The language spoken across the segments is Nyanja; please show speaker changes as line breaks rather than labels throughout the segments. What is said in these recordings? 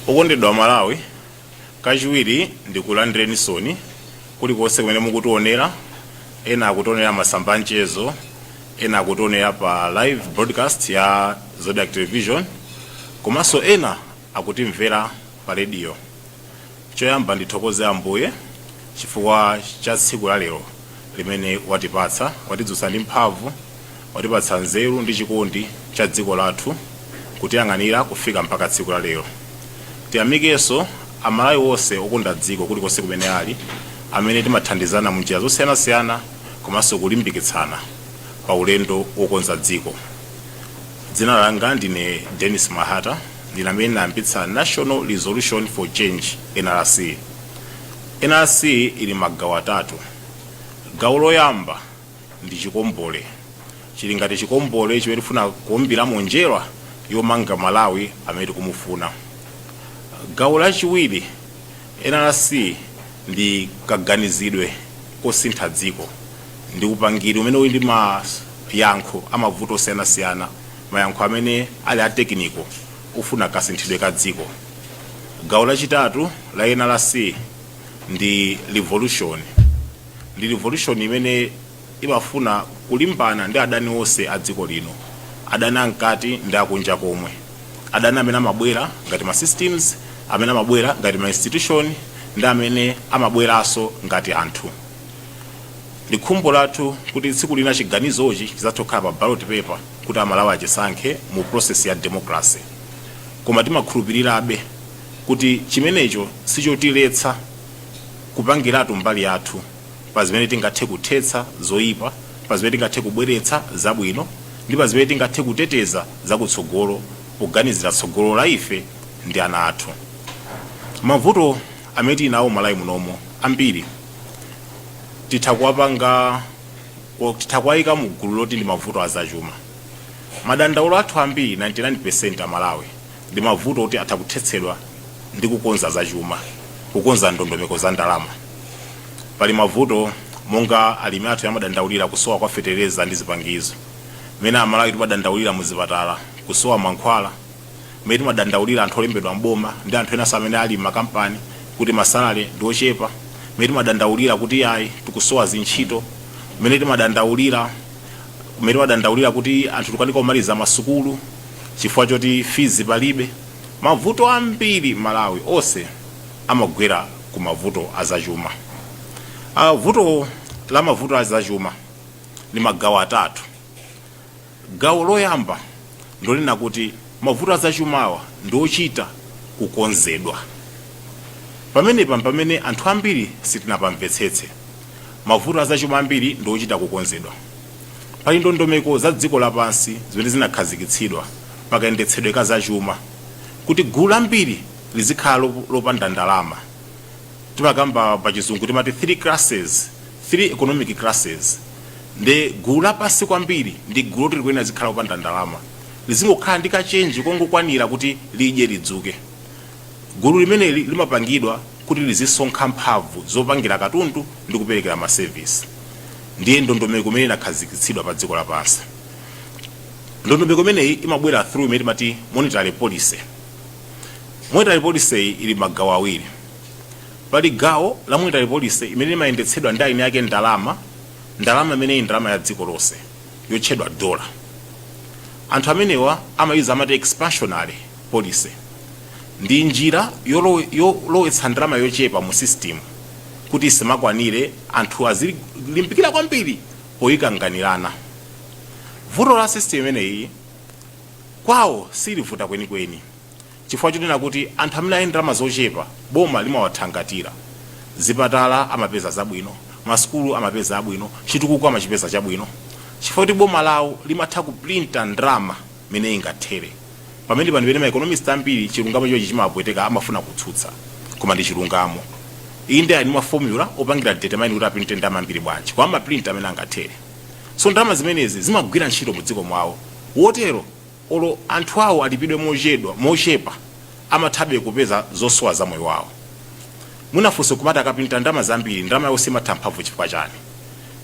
Okondedwa Malawi, kachiwiri ndikulandireninso ni kulikonse kumene mukutionera, ena akutionera masamba a mchezo, ena akutionera pa live broadcast ya Zodiak Television, komanso ena akutimvera pa radio. Choyamba ndithokoze Ambuye chifukwa cha tsiku la lero limene watipatsa. Watidzutsa ndi mphamvu, watipatsa nzeru ndi chikondi cha dziko lathu kutiyang'anira kufika mpaka tsiku la lero. Tiyamikenso a Malawi onse okonda dziko kulikonse kumene ali amene timathandizana munjira zosiyanasiyana komanso kulimbikitsana pa ulendo wokonza dziko. Dzina langa ndine Denis Mahata. Ndine amene ndinayambitsa National Resolution for Change, NRC. NRC ili magawo atatu. Gawo loyamba ndi chikombole. Chili ngati chikombole chimene tikufuna kuumbiramo njerwa yomanga Malawi amene tikumufuna. Gawo lachiwiri, NRC ndi kaganizidwe kosintha dziko. Ndi upangiri umene uli ndi mayankho a mavuto osiyanasiyana. mayankho amene ali a tekiniko ofuna kasinthidwe ka dziko. Gawo lachitatu la NRC ndi revolution. Ndi revolution imene imafuna kulimbana ndi adani onse a dziko lino, adani amkati ndi akunja komwe, adani amene amabwera ngati ma systems, amene amabwera ngati ma institution, ndi amene amabweranso ngati anthu. Ndi khumbo lathu kuti tsiku lina chiganizochi chidzathe kukhala pa ballot paper kuti Amalawi achisankhe mu process ya democracy. Koma timakhulupirirabe kuti chimenecho si chotiletsa kupangiratu mbali yathu pa zimene tingathe kuthetsa zoipa, pa zimene tingathe kubweretsa zabwino, ndi pa zimene tingathe kuteteza zakutsogolo poganizira tsogolo la ife ndi ana athu. Mavuto amene tili nawo m'Malawi munomo ambiri titha kuwapanga or titha kuwayika mu gulu loti ndi mavuto a zachuma. Madandaulo athu ambiri 99% a Malawi ndi mavuto oti atha kuthetsedwa ndi kukonza za chuma, kukonza ndondomeko za ndalama. Pali mavuto monga alimi athu amadandaulira kusowa kwa fetereza ndi zipangizo, mmene a Malawi timadandaulira mu zipatala kusowa mankhwala, mmene timadandaulira anthu olembedwa m'boma ndi anthu enanso amene ali m'makampani kuti masalale ndi ochepa, mmene timadandaulira kuti iyayi tikusowa zintchito, mmene timadandaulira kuti anthu tikukanika kumaliza masukulu chifukwa choti fizi palibe. Mavuto ambiri m'Malawi onse amagwera ku mavuto a zachuma. A vuto la mavuto a zachuma ndi magawo atatu. Gawo loyamba ndilonena kuti mavuto azachumawa ndiochita kukonzedwa. Pamenepa mpamene anthu ambiri sitinapamvetsetse. Mavuto azachuma ambiri ndiochita kukonzedwa. Pali ndondomeko za dziko lapansi zimene zinakhazikitsidwa pakayendetsedwe ka zachuma kuti gulu lambiri lizikhala lopanda ndalama. Timakamba pachizungu timati three classes 3 economic classes nde gulu lapansi kwambiri ndi gulu loti likuyenera lizikhala lopanda ndalama lizingokhala ndi ka chenji kongokwanira kuti lidye lidzuke gulu limeneli limapangidwa kuti lizisonkha mphamvu zopangira katundu ndi kuperekera ma service ndiye ndondomeko imene inakhazikitsidwa pa dziko lapansi ndondomeko imeneyi imabwera through imene timati monetary policy monetary policy ili magawo awiri Pali gawo la monetary policy imene imayendetsedwa ndi ayini ake ndalama, ndalama imene ili ndalama ya dziko lonse yotchedwa dollar. Anthu amenewa amaiuza amati expansionary policy. Ndi njira yolowetsa ndalama yochepa mu sisitimu kuti isamakwanire anthu azilimbikira kwambiri poyikanganirana. Vuto la sisitimu imeneyi kwawo silivuta kwenikweni. chifukwa chonena kuti anthu amene ali ndi ndalama zochepa boma limawathangatira. Zipatala amapeza zabwino, masukulu amapeza abwino, chitukuko amachipeza chabwino chifukwa choti boma lawo limatha kuprinta ndalama mmene ingathere. Pamenepa ndi pamene ma economist ambiri chilungamo chimenechi chimawapweteka, amafuna kutsutsa koma ndi chilungamo. Inde ali ndi ma formula opangira determine kuti aprinte ndalama zambiri bwanji koma amaprinta mmene angathere. So ndalama zimenezi zimagwira ntchito mu dziko mwawo. Wotero. Olo anthu awo alipidwe mochedwa, mochepa, amathabe kupeza zosowa za moyo wawo. Mwina funso nkumati akaprinta ndalama zambiri, ndalama yawo simatha mphamvu chifukwa chani?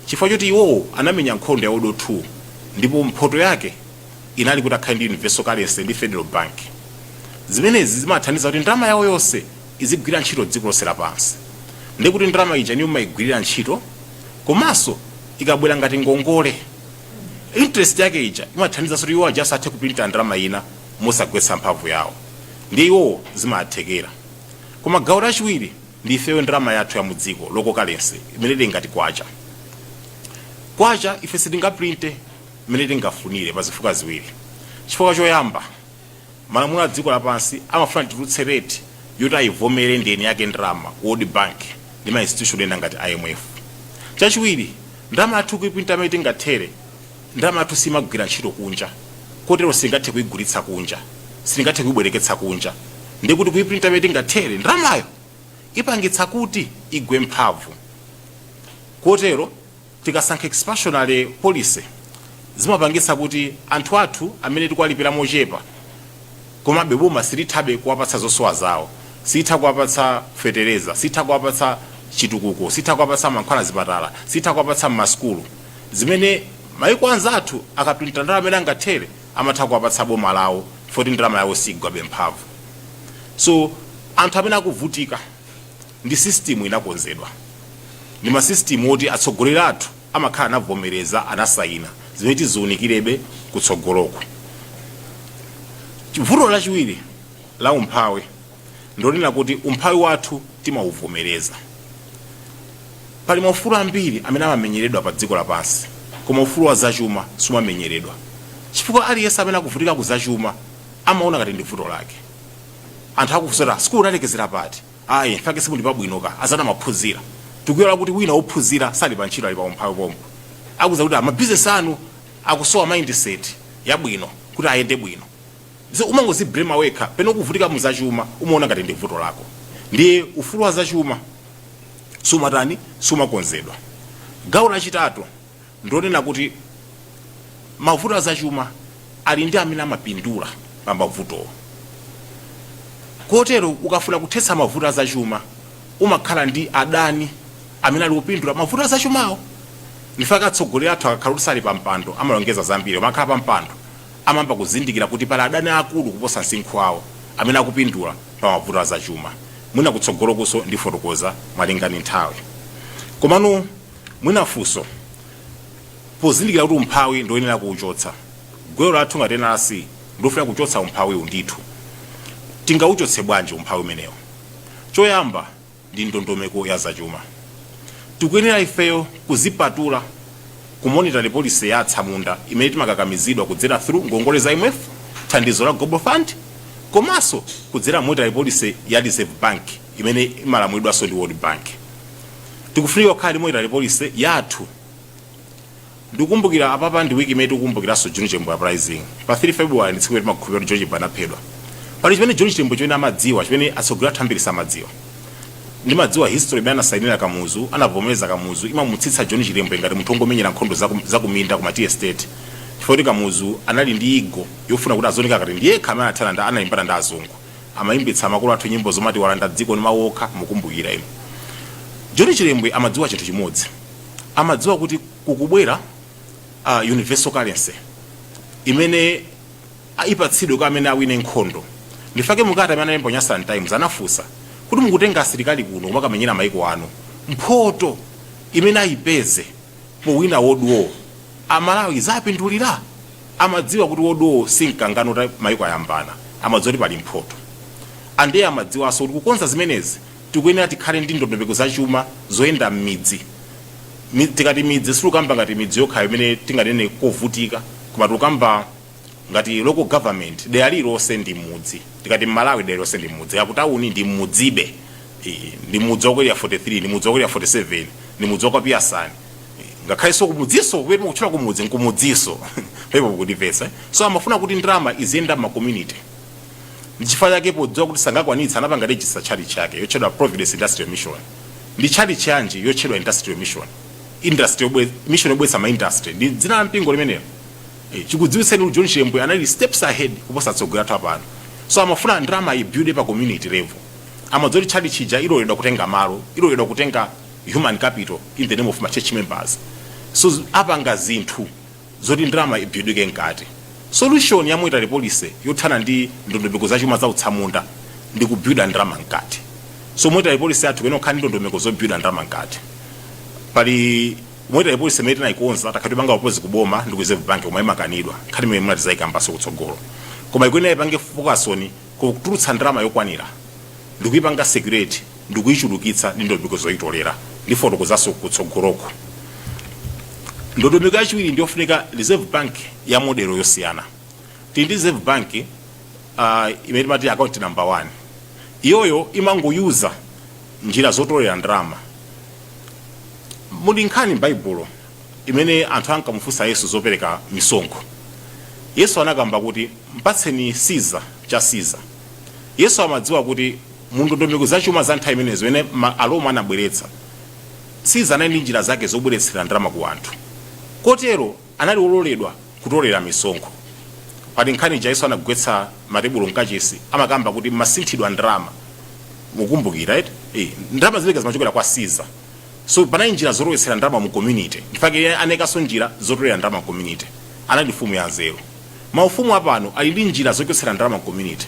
Chifukwa choti iwowo anamenya nkhondo ya world war 2 ndipo mphoto yake inali kuti akhale ndi universal currency ndi federal bank. Zimenezi zimawathandiza kuti ndalama yawo yonse izigwira ntchito dziko lonse lapansi. Ndekuti ndalama ija niyo mumayigwirira ntchito komanso ikabwera ngati ngongole. interest yake ija imathandiza kuti iwo aja azathe kuprinta ndalama ina mosagwetsa mphamvu yawo ndiye iwowo zimathekera koma gawo lachiwiri ndi ifeyo ndalama yathu ya mudziko local currency imene tingati kwacha kwacha ife sitingaprinte imene tingafunire pa zifukwa ziwiri chifukwa choyamba malamulo adziko lapansi amafuna titulutse rate yoti ayivomere ndi eni ake ndalama ku world bank ndi ma institution ena ngati IMF. Chachiwiri ndalama yathu kuiprinta mmene tingathere, ndalama yathu simagwira ntchito kunja kotero sitingathe kuigulitsa kunja, sitingathe kuibwereketsa kunja ndiye kuti kuiprinta mmene tingathere ndalamayo ipangitsa kuti igwe mphamvu kotero. Tikasankha expansionary policy zimapangitsa kuti anthu athu amene tikuwalipira mochepa komabe boma silithabe kuwapatsa zosowa zawo, silitha kuwapatsa fetereza, silitha kuwapatsa chitukuko, silitha kuwapatsa mankhwala m'zipatala, silitha kuwapatsa mmasukulu zimene maiko anzathu akaprinta ndalama imene angathere amatha kuwapatsa boma lawo chifukwa choti ndalama yawo siigwabe mphamvu. So anthu amene akuvutika ndi system inakonzedwa ndi ma system oti atsogoleri athu amakhala anavomereza anasayina zimene tiziunikirebe kutsogoloku vuto lachiwiri la umphawi ndonena kuti umphawi wathu timauvomereza pali maufulu ambiri amene amamenyeredwa pa dziko lapansi koma ufulu wa zachuma sumamenyeredwa chifukwa aliyense amene akuvutika ku zachuma amaona ngati ndi vuto lake anthu akufunsa sukulu unalekezera pati ayi mfake simuli pabwinoka anzanu anaphunzira tikuiwala kuti wina wophunzira sali pa ntchito ali pa umphawi pompo akuuza kuti mabizinesi anu akusowa mindset yabwino kuti ayende bwino so umangoziblema wekha pene ukuvutika mu zachuma umaona ngati ndi vuto lako ndiye ufulu wa zachuma sumatani sumakonzedwa gawo lachitatu ndonena kuti mavuto a zachuma ali ndi amene amapindula pa mavutowo kotero, ukafuna kuthetsa mavuto a zachuma umakhala ndi adani amene akupindula pa mavuto a zachumawo. Ndifake atsogoleri athu akakhala kuti sali pa mpando amalonjeza zambiri, amakhala pa mpando amayamba kuzindikira kuti pali adani aakulu kuposa msinkhu wawo amene akupindula pa mavuto a zachuma. Mwina kutsogolokunso ndifotokoza malinga ndi nthawi. Komano. Mwina funso, pozindikira kuti umphawi ndi woyenera kuuchotsa, gwero lathu ngati NRC ndilofuna kuchotsa umphawiwu ndithu. Tingauchotse bwanji umphawi umenewu? Choyamba ndi ndondomeko ya zachuma. Tikuyenera ifeyo kuzipatula ku monetary policy ya atsamunda imene timakakamizidwa kudzera through ngongole za IMF, thandizo la Global Fund komanso kudzera monetary policy ya Reserve Bank imene imalamulidwanso ndi World Bank. tikufunika kukhala ndi monetary policy yathu ndikukumbukira apapa ndi wiki imene tikukumbukiranso john chilembwe uprising pa 3 february ndi tsiku limene timakhulupirira kuti john chilembwe anaphedwa pali chimene john chilembwe chimene amadziwa chimene atsogoleri athu ambiri samadziwa ndimadziwa history imene anasainira kamuzu anavomereza kamuzu imamutsitsa john chilembwe ngati munthu wongomenyera nkhondo zaku- zakuminda ku ma tea estate chifukwa kuti kamuzu anali ndi ego yofuna kuti azioneka ngati ndiyekha amene anathana ndi analimbana ndi azungu Amayimbitsa makolo athu nyimbo zomati walanda dziko ndi mawu okha mukumbukira inu. John Chilembwe amadziwa chinthu chimodzi. Amadziwa kuti kukubwera universal currency imene ipatsidwe kwa amene awine nkhondo. Ndichifukwa chake m'kalata imene analemba ku Nyasaland Times anafunsa kuti mukutenga asilikali kuno kumakamenyera mayiko anu mphoto imene ayipeze powina world war Amalawi izawapindulira? Amadziwa kuti World War si mkangano woti maiko ayambana. Amadziwa kuti pali mphoto. Ande amadziwanso kuti kukonza zimenezi tikuyenera tikhale ndi ndondomeko za chuma zoyenda mmidzi. Mi, tikati midzi situkamba ngati midzi yokhayo imene tinganene kovutika koma tikukamba ngati local government dera lililonse ndi mudzi. Tikati m'Malawi dera lililonse ndi mudzi kaya kutauni ndi mmudzibe. Ii, ndi mudzi wa ku Area 43, ndi mudzi wa ku Area 47, ndi mudzi wa kwa Piyasani. ngakhalenso kumudziso kwenu kutchula kumudzi nkumudziso pepo kundimvetsa so amafuna kuti ndalama iziyenda m'ma community ndichifukwa chake podziwa kuti sangakwanitsa anapanga register tchalitchi yake yotchedwa providence industrial mission ndi tchalitchi yanji yotchedwa industrial mission industrial yobwe- mission yobweretsa ma industry ndi dzina la mpingo limenelo Eh, chikudziwitseni kuti john chilembwe anali steps ahead kuposa atsogoleri athu apano so amafuna ndalama ibuilde pa community level amadziwa kuti tchalitchi ija iloledwa kutenga malo iloledwa kutenga human capital in the name of ma church members so z- apanga zinthu zoti ndalama ibuildike mkati solution ya monetary policy yothana ndi ndondomeko za chuma za utsamunda ndi kubuilda ndalama mkati so monetary policy yathu ikuyenera kukhala ndi ndondomeko zobuilda ndalama mkati pali monetary policy imene tinayikonza takhala tikupanga propose kuboma ndi ku reserve bank koma imakanidwa nkhani imene munati zayikambaso kutsogolo koma ikuyenera ipange focus on kutulutsa ndalama yokwanira ndikuipanga circulate ndikuichulukitsa ndi ndondomeko zoitolera. Ndifotokozanso kutsogoloko. Ndondomeko yachiwiri ndiyofunika Reserve Bank ya model yosiyana. Tili ndi Reserve Bank uh, imene timati account number one. Iyoyo imangoyuza njira zotolera ndalama. Muli nkhani m'Baibulo imene anthu ankamufunsa Yesu zopereka misonkho, Yesu anakamba kuti, Mpatseni Siza cha Siza. Yesu amadziwa kuti mu ndondomeko za chuma za nthawi imeneyo zimene Aroma anabweretsa, Siza anali ndi njira zake zobweretsera ndalama ku anthu. Kotero anali wololedwa kutolera misonkho. Pali nkhani ija Yesu anagwetsa matebulo mkachisi, amakamba kuti mumasinthidwa ndalama. Mukumbukira eti? Ndalama zimenezo zimachokera kwa Siza. so panali njira zolowetsera ndalama mu community ndifake iye anaikaso njira zotolera ndalama mu community anali mfumu ya nzeru maufumu apano ali ndi njira zochotsera ndalama mu community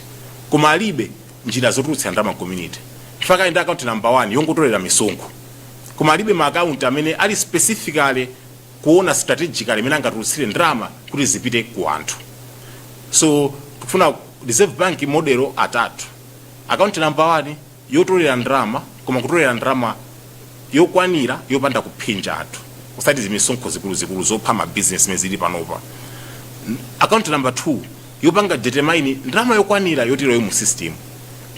koma alibe njira zotulutsira ndalama mu community ndifake ali ndi akaunti namba 1 yongotolera misonkho koma alibe ma account amene ali specifically kuona strategically mmene angatulutsire ndalama kuti zipite ku anthu so tikufuna reserve bank modelo atatu account number 1 yotolera ndalama koma kutolera ndalama yokwanira yopanda kuphinja anthu osati zimisonkho zikuluzikulu zopha ma business zimene zili panopa N- account number 2 yopanga determine ndalama yokwanira yoti ilowe mu system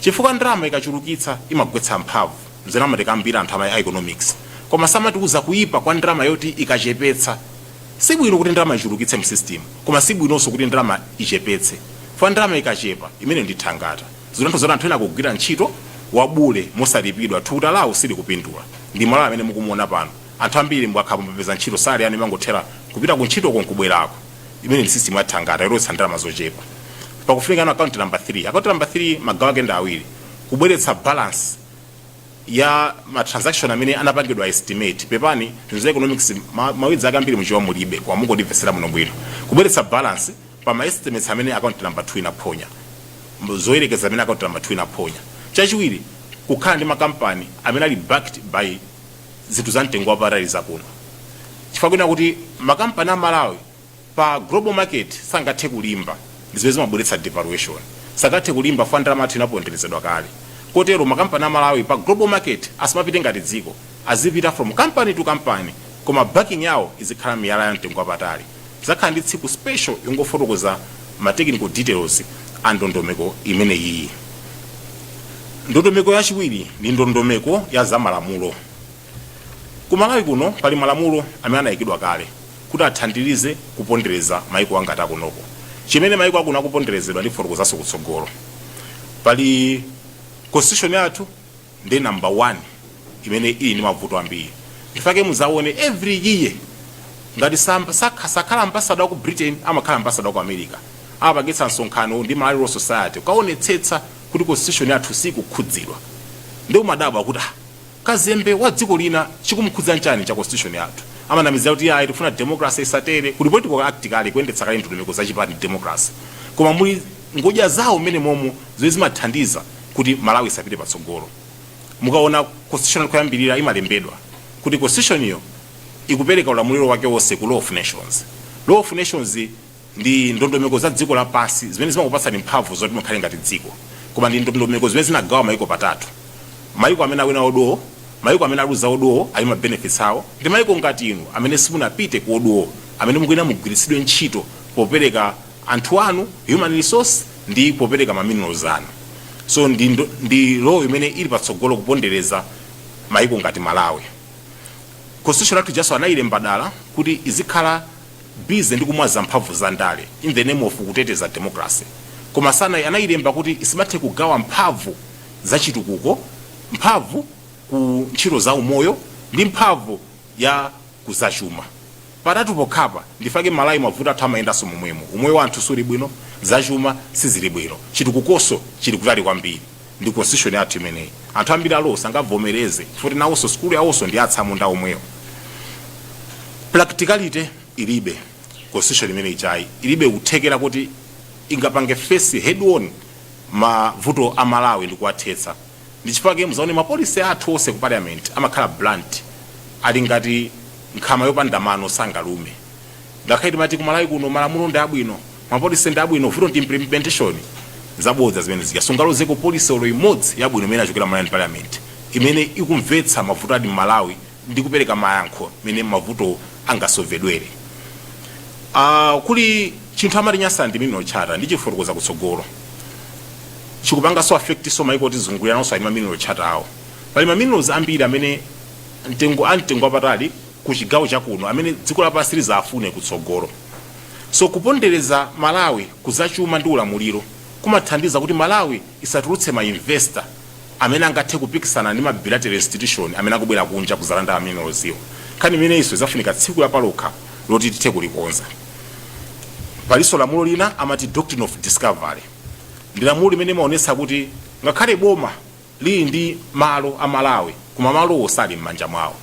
chifukwa ndalama ikachulukitsa imagwetsa mphamvu nzimene amatikambira anthu ama economics koma samatiuza kuipa kwa ndalama yoti ikachepetsa si bwino kuti ndalama ichulukitse mu system koma si bwinonso kuti ndalama ichepetse chifukwa ndalama ikachepa imene ndi thangata Zinthu zoti anthu ena akugwira ntchito yabule mosalipidwa, thukuta lawo silikupindula. Ndi Malawi amene mukumuona pano. Anthu ambiri mukakhala kuti mwapeza ntchito, salary yanu imangothera kupita ku ntchitoko nkubwerako. Imeneyi ndi system ya thangata yolowetsa ndalama zochepa. Pakufunikanso account number 3. Account number 3 magawo ake ndi awiri. Kubweretsa balance ya ma transaction amene anapangidwa estimate. Pepani, zinthu za economics ma, ma words ake ambiri mu Chichewa mulibe, koma mungondimvetsera bwinobwino. Kubweretsa balance. pa ma estimates amene account number 2 inaphonya, zoyerekeza zimene account number 2 inaphonya. Chachiwiri, kukhala ndi makampani amene ali backed by zinthu za mtengo wapatali za kuno. Chifukwa kunena kuti makampani a Malawi pa global market sangathe kulimba, ndi zimene zimabweretsa devaluation. Sangathe kulimba chifukwa ndalama yathu inaponderezedwa kale. Kotero makampani a Malawi pa global market asamapite ngati dziko, azipita from company to company koma backing yawo izikhala miyala ya mtengo wapatali. Tizakhala ndi tsiku special yongofotokoza ma technical details a ndondomeko imeneyiyi. Ndondomeko yachiwiri ndi ndondomeko ya za malamulo. Ku Malawi kuno pali malamulo amene anayikidwa kale kuti athandirize kupondereza mayiko angati akunoko. Chimene mayiko akuno akuponderezedwa ndifotokozanso kutsogolo. Pali constitution yathu. ndi number one imene ili ndi mavuto ambiri ndifake muzaone every year ngati sam- sakha- sakhala ambasada waku britain amakhala ambasada waku america amapangitsa msonkhano ndi malawi law society kukaonetsetsa kuti constitution yathu sikukhudzidwa nde umadabwa kuti ah, kazembe wa dziko lina chikumkhudza nchani cha constitution yathu amanamizira kuti ayi tifuna democracy isatere kuti political act kale kuyendetsa kale ndondomeko za chipani democracy koma muli ngodya zawo mmene momo zimene zimathandiza kuti Malawi isapite patsogolo. Mukaona constitution koyambirira imalembedwa kuti constitution yo ikupereka ulamuliro wake wonse ku Law of Nations. Law of Nations ndi ndondomeko za dziko lapansi zimene zimakupatsani mphamvu zoti mukhale ngati dziko koma ndi ndondomeko zimene zinagawa maiko patatu. Maiko amene awina World War, maiko amene aluza World War ali ma benefits awo ndi maiko ngati inu amene simunapite ku World War amene mukuyenera mugwiritsidwe ntchito popereka anthu anu, human resource, ndi popereka ma minerals anu. So ndi ndo, ndi law imene ili patsogolo kupondereza maiko ngati Malawi. Constitution yathu ijaso anailemba dala kuti izikhala busy ndi kumwaza mphamvu za ndale in the name of kuteteza democracy. Koma sana, anailemba kuti isimathe kugawa mphamvu za chitukuko, mphamvu ku ntchito za umoyo, ndi mphamvu ya ku za chuma. Patatu pokhapa, ndifake Malawi mavuto athu amayendanso momwemo, umoyo wa anthu suli bwino, za chuma sizili bwino, chitukukonso chili kutali kwambiri ndi constitution yathu imeneyi. Anthu ambiri a law sangavomereze chifukwa kuti nawonso sukulu yawonso ndi ya atsamunda omwewo. Practicality ilibe, constitution imene ijayi ilibe kuthekera kuti ingapange face head-on mavuto a Malawi ndi kuwathetsa. ndi chifukwa chake muzaone ma policy athu onse ku parliament amakhala blunt ali ngati nkhama yopanda mano sangalume ngakhale timati ku malawi kuno malamulo ndi abwino ma policy ndi abwino vuto ndi implementation zabodza zimene zija sungalozeko policy olo imodzi yabwino imene yachokera Malawian parliament imene ikumvetsa mavuto a m'Malawi ndi kupereka mayankho mene mavuto angasovedwere kuli chinthu amati Nyasaland mineral charter ndichifotokoza kutsogolo chikupangaso affectso maiko otizungulira nawoso ali ma mineral charter awo pali ma minerals ambiri amene mtengo a mtengo wapatali ku chigawo cha kuno amene dziko lapansi lizafune kutsogolo so kupondereza malawi kuzachuma ndi ulamuliro kumathandiza kuti malawi isatulutse ma investor amene angathe kupikisana ndi ma bilateral institution amene akubwera kunja kuzalanda ma minerals wo. Nkhani imeneyinso izafunika tsiku lapalokha loti tithe kulikonza. Palinso lamulo lina amati doctrine of discovery. Ndi lamulo limene limaonetsa kuti ngakhale boma lili ndi malo a Malawi koma malo wo sali m'manja mwawo.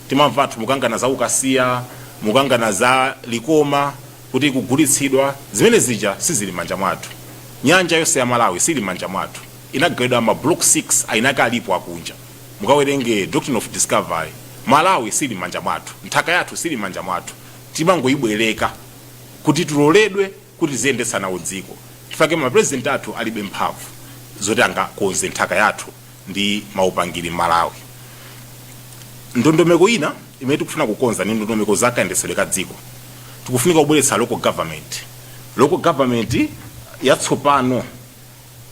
Timamva anthu mukangana za ukasiya, mukangana za Likoma. kuti ikugulitsidwa zimene zija sizili m'manja mwathu nyanja yonse ya malawi sili m'manja mwathu inagawidwa ma block 6 eni ake alipo akunja mukawerenge doctrine of discovery malawi sili m'manja mwathu nthaka yathu sili m'manja mwathu timangoyibwereka kuti tiloledwe kuti tiziyendetsa nawo dziko chifake ma president athu alibe mphamvu zoti angakonze nthaka yathu ndi maupangiri m'malawi ndondomeko ina imene tikufuna kukonza ndi ndondomeko za kayendetsedwe ka dziko tikufunika kubweretsa local government local government yatsopano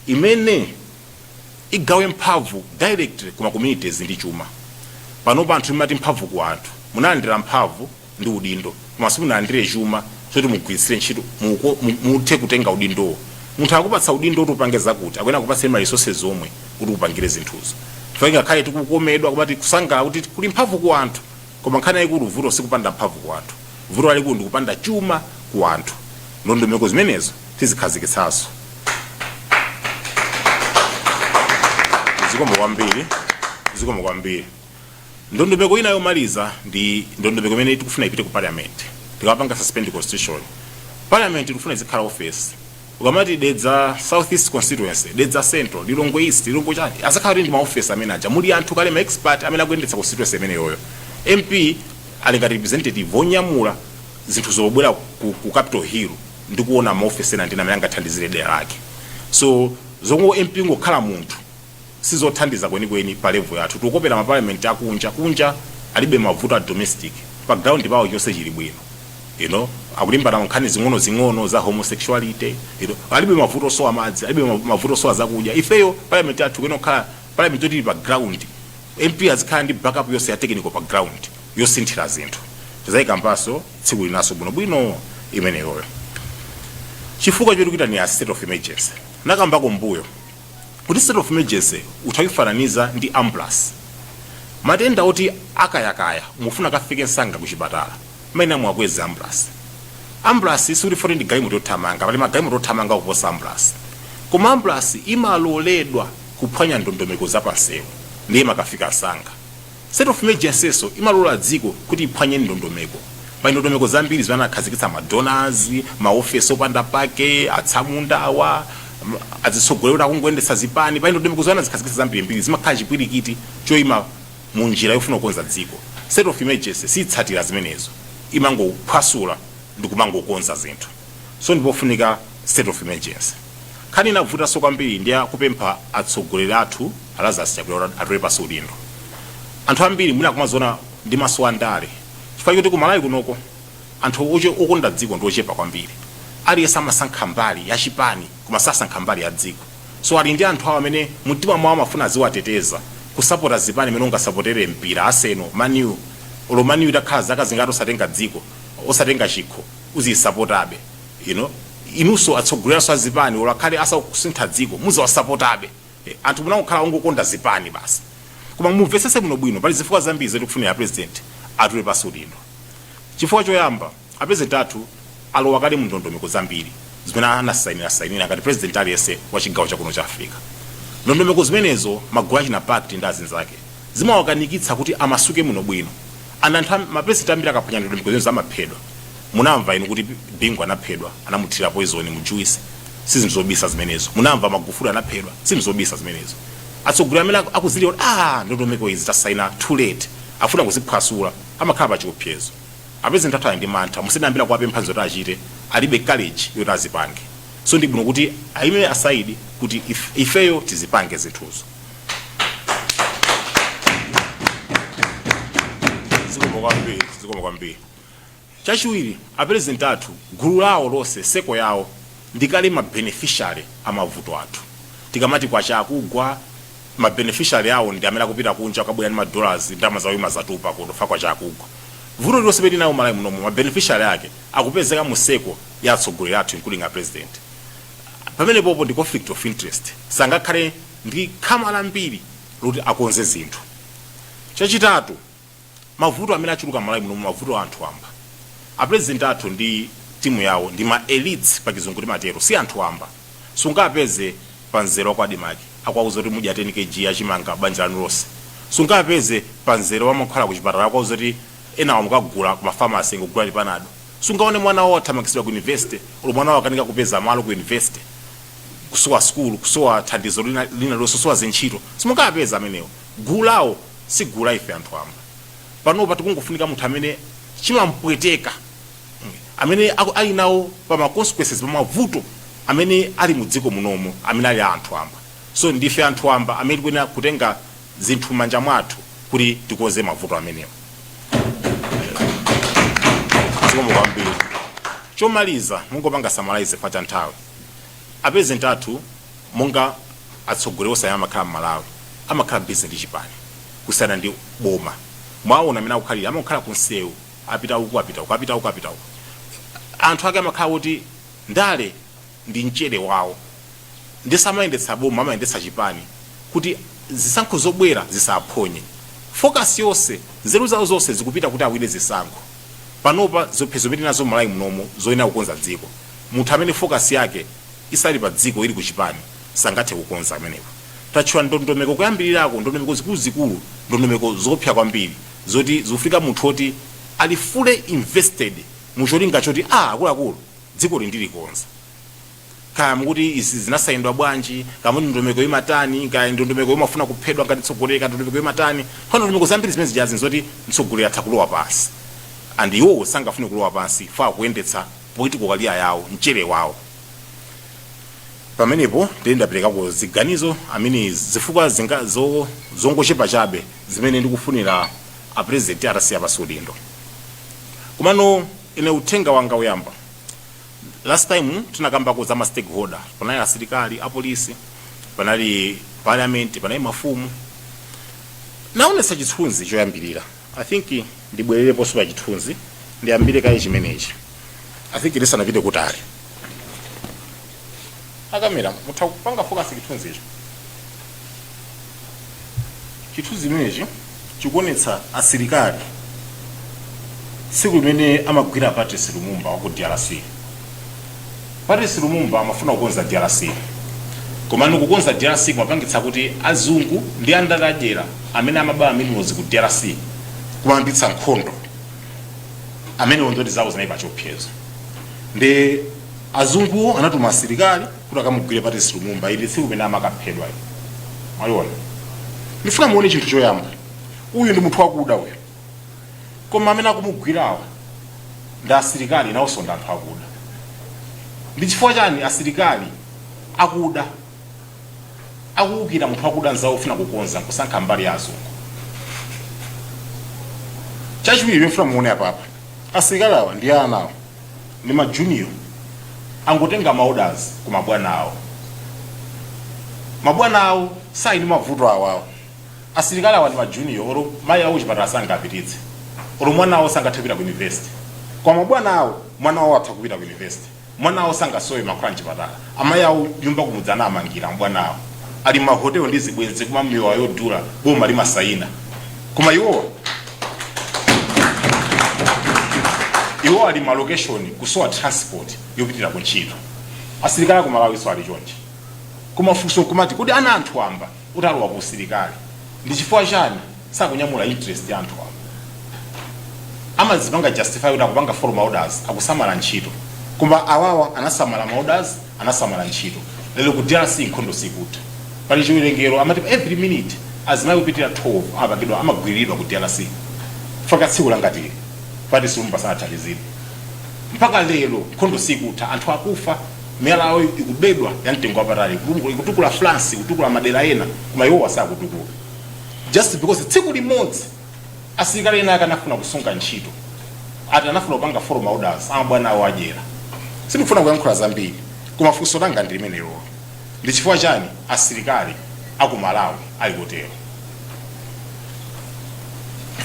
imene igawe mphamvu directly kuma communities ndi chuma panopa anthu mumati mphamvu ku anthu munalandira mphamvu ndi udindo koma simunalandire chuma choti mugwiritsire ntchito muthe kutenga udindowo munthu akupatsa udindo kuti upange zakuti akuyenera kupatsa ma resources zomwe kuti upangire zinthuzo chifukwa ngakhale tikukomedwa kumati kusangalala kuti kuli mphamvu ku anthu koma nkhani yayikulu vuto sikupanda mphamvu ku anthu vuto lalikulu ndi kupanda chuma ku anthu ndondomeko zimenezo tizikhazikitsanso zikomo kwambiri Ndondomeko ina yomaliza ndi ndondomeko imene tikufuna ipite ku parliament. Tikapanga suspend constitution. Parliament tikufuna izikhala office. Ukamati Dedza South East constituency, Dedza Central, Lilongwe East, Lilongwe chani. Azakhala ndi ma office amene aja. Muli anthu kale ma expert amene akuyendetsa constituency imeneyoyo. MP ali ngati representative wonyamula zinthu zobwera ku, ku Capital Hill ndi kuona ma office ena ndi amene angathandizire dera lake. So zomwe MP ngokhala munthu sizothandiza kwenikweni pa level yathu tikukopera ma parliament akunja kunja alibe mavuto a domestic pa ground pawo chonse chili bwino you know akulimbana ndi nkhani zing'onozing'ono za homosexuality you know alibe mavuto osowa madzi alibe ma- mavuto osowa zakudya ifeyo parliament yathu ikuyenera kukhala parliament yoti ili pa ground mp azikhala ndi backup yonse ya technical pa ground yosinthira zinthu tizayikambanso tsiku linanso bwinobwino imeneyoyo chifukwa choti kuitanira state of emergency nakambako mbuyo kuti state of emergency utha kuifananiza ndi ambulance matenda oti akayakaya mufuna akafike msanga kuchipatala mayenera muwakweze ambulance ambulance sikuti poti ndi galimoto yothamanga pali magalimoto othamanga kuposa ambulance koma ambulance imaloledwa kuphwanya ndondomeko zapansewu ndiye imakafika msanga State of Emergency'so imalola dziko kuti iphwanye ndondomeko. Pali ndondomeko zambiri zimene anakhazikitsa ma donors, ma office opanda pake, atsamunda awa, azitsogoleri oti akungoyendetsa zipani, pali ndondomeko zomwe anazikhazikitsa zambirimbiri, zimakhala chipwirikiti choima mu njira yofuna kukonza dziko. State of Emergency siitsatira zimenezo, imangophwasula ndikumangokonza zinthu. So ndipofunika State of Emergency. Nkhani inavutanso kwambiri ndi ya kupempha atsogoleri athu a Lazarus Chakwera kuti atule pansi udindo. Anthu ambiri mwina akumaziona ndi maso a ndale chifukwa choti ku Malawi kunoko anthu oche- okonda dziko ndi ochepa kwambiri. Aliyense amasankha mbali ya chipani koma sasankha mbali ya dziko. So ali ndi anthu awo amene mumtima mwawo amafuna aziwateteza kusapota zipani mmene ungasapotere mpira Arsenal, Man U, olo Man U itakhala zaka zingati osatenga dziko, osatenga chikho, uziyisapotabe. you know inuso atsogolelaso azipani olo akhale asakusintha dziko muziwasapotabe anthu munangokhala ongokonda zipani basi koma mumvesese bwino bwino pali zifukwa zambiri zoti kufunira president atule pansi udindo chifukwa choyamba apresident athu alowa kale mundondomeko zambiri zimene anasainira sainira ngati president aliyense wa chigawo chakuno cha africa ndondomeko zimenezo magulu achina pact ndi azinzake zimawakanikitsa kuti amasuke bwino bwino and anthu am- ma president ambiri akaphwanya ndondomeko zimenezo amaphedwa munamva inu kuti bingu anaphedwa anamuthira poison mu juice si zinthu zobisa zimenezo munamva magufuli anaphedwa si zinthu zobisa zimenezo atsogoleri amene aku- akudziwa kuti ah ndondomeko izi tasaina too late afuna kuziphwasula amakhala pa chiopsezo apezenti athu ali ndi mantha musalimbikire kuwapempha zoti achite alibe courage yoti azipange so ndi bwino kuti ayime aside kuti if- ifeyo tizipange zinthuzo zikomo kwambiri zikomo kwambiri chachiwiri aperezidenti athu gulu lawo lonse circle yawo ndikale mabeneficiary a mavuto athu tikamati kwacha akugwa mabeneficiary awo ndi amene akupita kunja akabwera ndi madollars ndalama zawo imazatupa kuti ifa kwacha akugwa vuto lililonse pe tinalo malawi munomo mabeneficiary ake akupezeka mu circle ya atsogoleri athu including a president pamenepopo ndi conflict of interest sangakhale ndi khama lambiri loti akonze zinthu. Chachitatu, mavuto amene achuluka m'Malawi muno mavuto a anthu wamba. A president athu ndi timu yawo ndi ma elites pa chizungu timatero, si anthu wamba. Sungawapeze pa mzere wa kwa Admarc akuwauza kuti mugula 10 Kg ya chimanga banja lanu lonse. Sungawapeze pa mzere wa mankhwala ku chipatala akuwauza kuti enawa mukagula ku ma pharmacy kungokugawirani panado. sungaone mwana wawo athamangitsidwa ku university olo mwana wawo akanika kupeza malo ku university kusowa sukulu kusowa thandizo lina lililonse kusowa zintchito simungapeza amenewo gulu lawo si gulu la ife anthu amba panopa tikungofunika munthu amene chimampweteka mm, amene aku- ali nawo pa ma consequences pa mavuto amene ali mu dziko munomo amene ali a anthu amba so ndife anthu amba amene tikuyenera kutenga zinthu m'manja mwathu kuti tikonze mavuto amenewa zikomo kwambiri chomaliza ndingopanga summarize pa cha nthawi apezenti athu monga atsogoleri onse amene amakhala m'malawi amakhala busy ndi chipani kusiyana ndi boma mwaona amene akukhalira amakhala kunsewu apita uku apita uku apita uku apita uku anthu ake amakhala kuti ndale ndi mchere wawo nde samayendetsa boma amayendetsa chipani kuti zisankho zobwera zisaphonye focus yonse nzeru zawo zonse zikupita kuti awine zisankho panopa ziopsezo zimene tinazo mmalawi munomo zoyenera kukonza dziko munthu amene focus yake isali pa dziko ili ku chipani sangathe kukonza amenewo tatchula ndondomeko kuyambilirako ndondomeko zikuluzikulu ndondomeko zoopsa kwambiri zoti zikufunika munthu oti ali fully invested mu cholinga choti aah akuluakulu Dzikoli ndilikonza. Kaya mukuti izi zinasaindwa bwanji, kaya muti ndondomeko imatani, kaya ndondomeko yomafuna kuphedwa ngati mtsogoleri, kaya ndondomeko imatani. Pano ndondomeko zambiri zimene zija zili nzoti mtsogoleri atha kulowa pansi. And iwowo sangafune kulowa pansi chifukwa akuteteza political career yawo, mchere wawo. Pamenepo ndiye ndaperekako ziganizo, I mean zifukwa zina, zo, zongochepa chabe zimene ndikufunira a president atatula pansi udindo. Komano. Ine uthenga wanga oyamba, last time tinakambako za ma stakeholder, panali asilikali, a police, panali parliament, panali mafumu. Naonetsa chithunzi choyambilira, I think ndibwerereponso pa chithunzi, ndiyambire kaye chimenechi, I think tisanapite kutali. a kamera mutha kupanga focus chithunzicho chithunzi chimenechi chikuonetsa asilikali tsiku limene amagwira patrice lumumba wa ku drc patrice lumumba amafuna kukonza drc komano kukonza drc kumapangitsa kuti azungu ndi andale adyera amene amaba ma minerals ku drc kumayambitsa nkhondo amenewo ntchito zawo zinali pachiopsezo ndi Azunguwo anatuma asilikali kuti akamugwire Patrice Lumumba. Ili ndi tsiku limene amakaphedwa ili. Mwaliona? Ndifuna muone chinthu choyamba. Uyu ndi munthu wakuda uyu. Koma amene akumugwirawa ndi asilikali nawonso ndi anthu akuda. Ndi chifukwa chani asilikali akuda akuwukira munthu wakuda nzawo ofuna kukonza nkusankha mbali ya azungu? Chachiwiri ndifuna muone apapa. Asilikali awa ndi ana awa. ndi ma junior angotenga ma orders ku mabwana awo mabwana awo sali ndi mavuto awawo asilikali awa ndi ma junior olo mayi awo chipatala sangapititse olo mwana awo sangathe kupita ku university koma mabwana awo mwana awo atha kupita ku university mwana awo sangasowe mankhwala mchipatala amayi awo nyumba kumudzi anamangira mabwana awo ali mahotelo ndi zibwenzi kumamwa mowa odula boma limasayina koma iwowa iwowa ali malokeshoni kusowa transport yopitira ku ntchito asilikali aku malawinso ali chonchi koma funso kumati kodi ana a anthu wamba atalowa ku usilikali ndi chifukwa chani sakunyamula interest ya anthu wamba amazipanga justify kuti akupanga follow ma orders akusamala ntchito koma awawa anasamala ma orders anasamala ntchito lero ku drc nkhondo sikutha pali chiwerengero amati pa every minute azimayi kupitira 12 amapangidwa amagwiriridwa ku drc chifukwa tsiku langati ili patrice lumumba sanathandizidwe mpaka lero nkhondo sikutha anthu akufa miyala yawo ikubedwa ya mtengo wapatali ikutukula france ikutukula madera ena koma iwowa sakutukuka just because tsiku limodzi Asilikali ena ake anafuna kusunga ntchito ati anafuna kupanga follow ma orders a mabwana awo adyera. Sindikufuna kuyankhula zambiri koma funso langa ndi limenelo. Ndi chifukwa chani asilikali a ku Malawi ali kutero?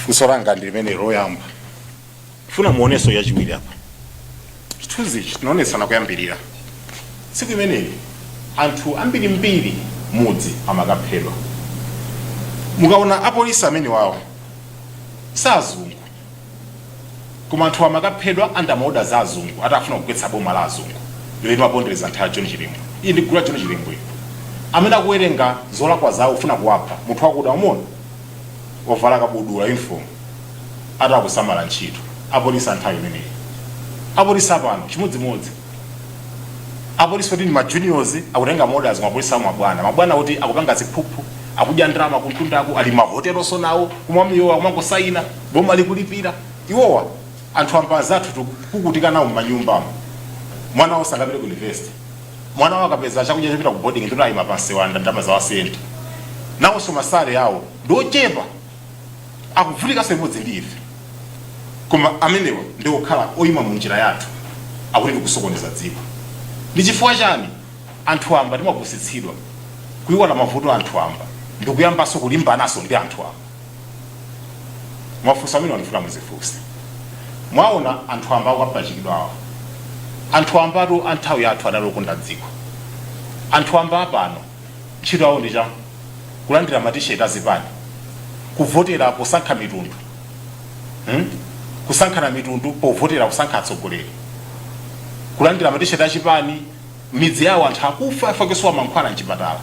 Funso langa ndi limenelo loyamba. funa muoneso yachiwiri apa chithunzi ichi tinaonesana kuyambirira tsiku imeneyi anthu ambirimbiri mudzi amakaphedwa mukaona apolisi amenewawo si azungu koma anthu amakaphedwa under ma orders a azungu ati afuna kugwetsa boma la azungulo limapondereza nthawi ya john chilembwe iyi ndi gulu la john chilembwe iyi amene akuwerenga zolakwa zawo kufuna kuwapha munthu wakuda umuone ovala kabudula uniform ati akusamala ntchito apolisi anthawi imeneyi apolisi apano chimodzimodzi apolisi oti ndi ma juniors akutenga ma orders mapolisi awo mabwana mabwana oti akupanga ziphuphu akudya ndalama kumtundako ali mahotelonso nawo kumwa miyowa kumangosayina boma likulipira iwowa anthu amba anzathu tikuvutika nawo m'manyumbamo mwana wawo sangapite ku university mwana wao akapeza chakudya chopita ku boarding ndiye kuti ayima pamsewu alanda ndalama za wa Sienta nawonso ma salary awo ndi ochepa akuvutikanso limodzi ndi ife koma amenewa ndi okhala oyima mu njira yathu akuti tikusokoneza dziko ndi chifukwa chani anthu amba timapusitsidwa kuiwala mavuto a anthu amba ndikuyambanso kulimbananso ndi anthu amba mafunso amenewa ndifuna muzifunse mwaona anthu amba akapachikidwa awa anthu ambatu a nthawi yathu adali okonda dziko anthu amba apano ntchito yawo ndi cha kulandira matisheti azipani kuvotera posankha mitundu hmm? kusankhana mitundu povotera kusankha atsogoleri kulandira matisheti achipani midzi yawo anthu akufa chifukwa chosowa mankhwala mchipatala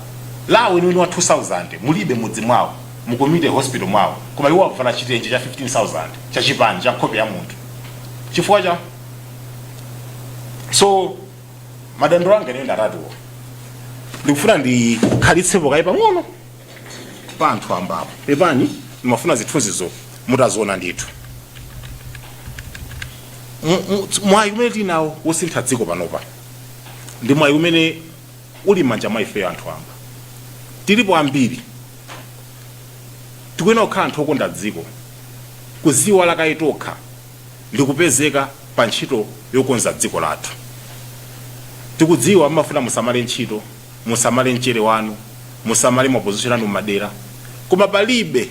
LA weniweni wa 2000 mulibe mudzi mwawo mu community hospital mwawo koma iwo avala chitenje cha 15000 cha chipani cha nkhope ya munthu chifukwa cha so madandaulo anga ineyo ndi atatuwo ndikufuna ndikhalitsepo kaye pang'ono pa anthu ambapo pepani ndimafuna zithunzizo mutaziona ndithu Mu- mu- mwayi umene tinawo wosintha dziko panopa ndi mwayi umene uli m'manja mwa ifeyo anthu amba tilipo ambiri tikuyenera kukhala anthu okonda dziko kuziiwala kaye tokha ndi kupezeka pa ntchito yokonza dziko lathu tikudziwa mmafuna musamale ntchito musamale mchere wanu musamale maposition anu m'madera koma palibe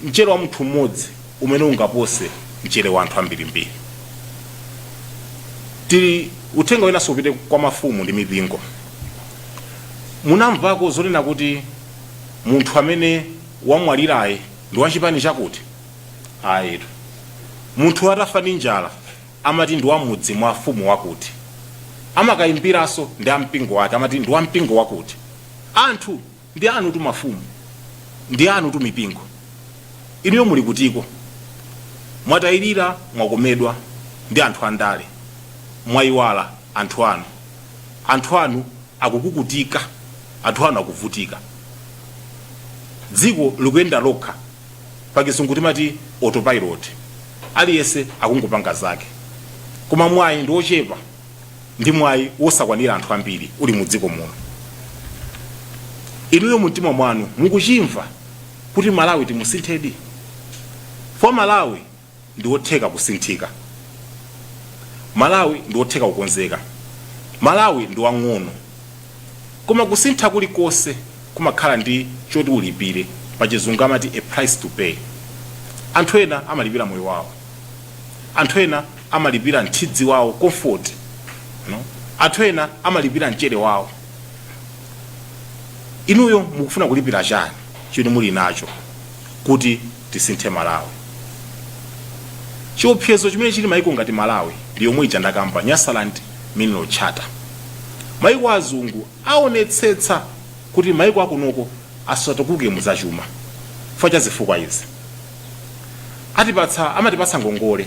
Mchere wa munthu mmodzi umene ungapose mchere wa anthu ambirimbiri. Tili, uthenga winanso upite kwa mafumu ndi mipingo. Munamvako zonena kuti munthu amene wamwalirayi ndi wa chipani chakuti? Ayitu. Munthu atafa ndi njala amati ndi wa mudzi mwa afumu wakuti. Amakayimbiranso ndi a mpingo wake amati ndi wa mpingo wakuti. Anthu! Ndi anutu mafumu, ndi anutu mipingo. Inuyo muli kutiko? Mwatayirira, mwakomedwa ndi anthu a ndale, mwaiwala anthu anu. Anthu anu akukukutika, anthu anu akuvutika. Dziko likuyenda lokha, pachizungu timati autopilot, aliyense akungopanga zake. Koma mwayi ndi ochepa. ndi mwayi wosakwanira anthu ambiri uli mu dziko muno inuyo mumtima mwanu mukuchimva kuti malawi timusinthedi for malawi ndi wotheka kusinthika malawi ndi wotheka kukonzeka malawi ndi wang'ono koma kusintha kulikonse kumakhala ndi choti ulipire pachizungu amati a price to pay anthu ena amalipira moyo wawo anthu ena amalipira nthidzi wawo comfort anthu ena amalipira mchere wawo inuyo mukufuna kulipira chani chimene muli nacho kuti tisinthe malawi chiopsezo chimene chili maiko ngati malawi ndi yomwe ija ndakamba nyasaland mineral charter maiko azungu aonetsetsa kuti maiko akunoko asatukuke muzachuma chifukwa cha zifukwa izi atipatsa amatipatsa ngongole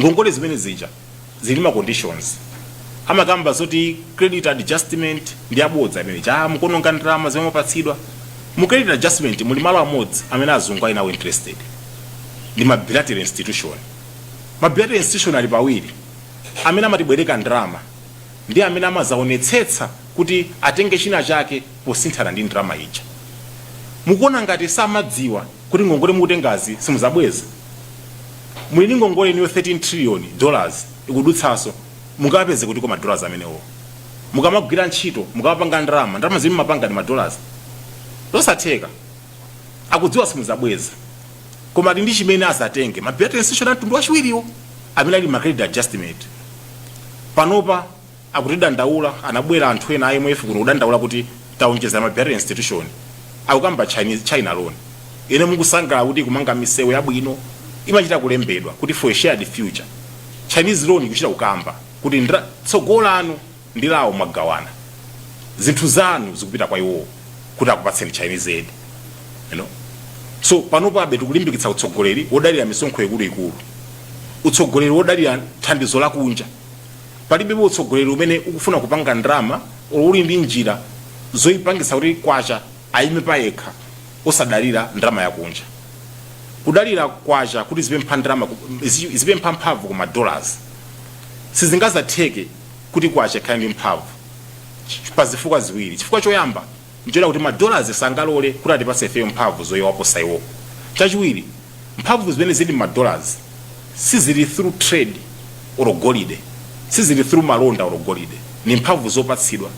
ngongole zimene zija zili ndi ma conditions amakamba zoti credit adjustment ndi yabodza imene ija mukononga ndalama zimene mwapatsidwa mu credit adjustment muli malo amodzi amene azungu ali nawo interested ndi ma bilateral institution ma bilateral institution ali pawiri amene amatibwereka ndalama ndi amene amazaonetsetsa kuti atenge china chake posinthana ndi ndalama ija. Mukuona ngati samadziwa kuti ngongole mukutengazi simuzabweza? Muli ndi ngongole inuyo 13 trillion dollars ikudutsaso, mungapeze kutiko ma dollars amenewo? Mukamagwira ntchito, mukamapanga ndalama, ndalama zimene mumapanga ndi ma dollars? Zosatheka. Akudziwa simuzabweza. Koma ali ndi chimene azatenge, ma bilateral institution a mtundu wachiwiriwo amene ali ma credit adjustment. Panopa. akutidandaula anabwela anthu ena a imf kuno kudandaula kuti taonjezela ma bilateral institution akukamba china loan inu mukusangalala kuti ikumanga misewu yabwino imachita kulembedwa kuti for a shared future chinese loan ikuchita kukamba kuti tsogolo lanu ndi lawo mwagawana zinthu zanu zikupita kwa iwowo kuti akupatseni chinese aid you know so panopabe tikulimbikitsa utsogoleri wodalira misonkho ikuluikulu utsogoleri wodalira thandizo lakunja palibepo utsogoleri umene ukufuna kupanga ndalama or uli ndi njira zoyipangitsa kuti kwacha aime payekha osadalira ndalama yakunja. Kudalira kwacha kuti izipempha ndalama ku, izi- izipempha mphamvu ku madollars sizingazatheke kuti kwacha ikhale ndi mphamvu Ch- pa zifukwa ziwiri. Chifukwa choyamba nchonena kuti ma dollars sangalole kuti atipatse ifeyo mphamvu zowaposa iwo. Chachiwiri, mphamvu zimene zili mma dollars sizili through trade or golide, sizili through malonda or golide, ndi mphamvu zopatsidwa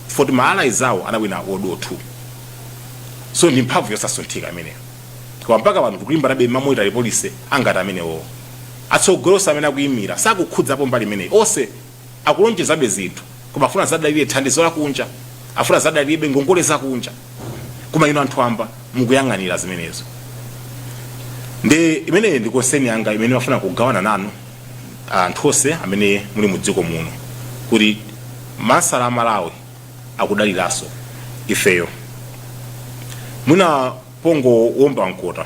chifukwa choti ma allies awo anawina world war 2. So ndi mphamvu yosasunthika imeneyo. Koma mpaka pano tikulimbanabe mma monetary policy angati amenewowo. Atsogoleri onse amene akuimira sakukhudzapo mbali imeneyi. Onse. akulonjezabe zinthu koma afuna azadalire thandizo lakunja afuna azadalirebe ngongole zakunja koma inu anthu amba mukuyang'anira zimenezo ndiye imene ndi konseni yanga imene ndimafuna kugawana nanu anthu onse amene muli mu dziko muno kuti masala a malawi akudaliranso ifeyo mwina pongowomba mkota.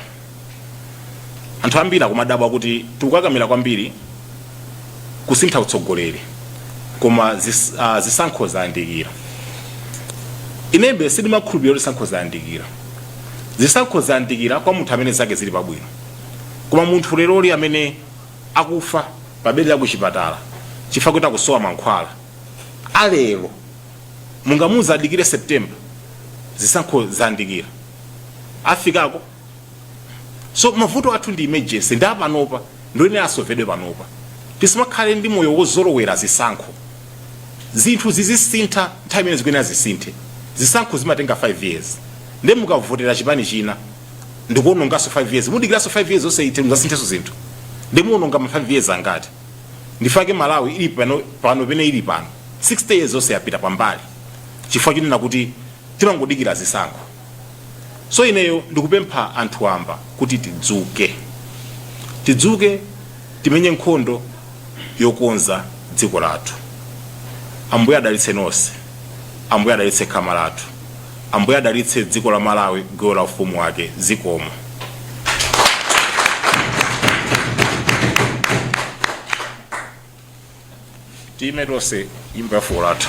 Anthu ambiri akumadabwa kuti tikukakamira kwambiri kusintha utsogoleri koma zis, uh, zisankho zayandikira. Inebe sindimakhulupirira kuti zisankho zayandikira. Zisankho zayandikira kwa munthu amene zake zili pabwino. Koma munthu leroli amene akufa pa bedi la kuchipatala chifukwa kuti akusowa mankhwala alero mungamuuze adikire September? Zisankho zayandikira. Afikako? So mavuto athu ndi emergency ndi apanopa ndiye asovedwe panopa. Tisamakhale ndi moyo wozolowera zisankho. Zinthu zizisintha nthawi imene zikuyenera zisinthe. Zisankho zimatenga 5 years. Ndiye mukavotera chipani china ndikuononganso 5 years. Mudikiranso 5 years zonse ite muzasinthenso zinthu. Ndiye muononga ma 5 years angati? ndifake malawi ili pano pene ili pano 60 years yonse yapita pambali chifukwa chonena kuti timangodikira zisankho so ineyo ndikupempha anthu wamba kuti tidzuke tidzuke timenye nkhondo yokonza dziko lathu ambuye adalitse nonse ambuye adalitse khama lathu Ambuye adalitse dziko la Malawi gawo la ufumu wake zikomo. Time tonse nyimbo ya fuko lathu.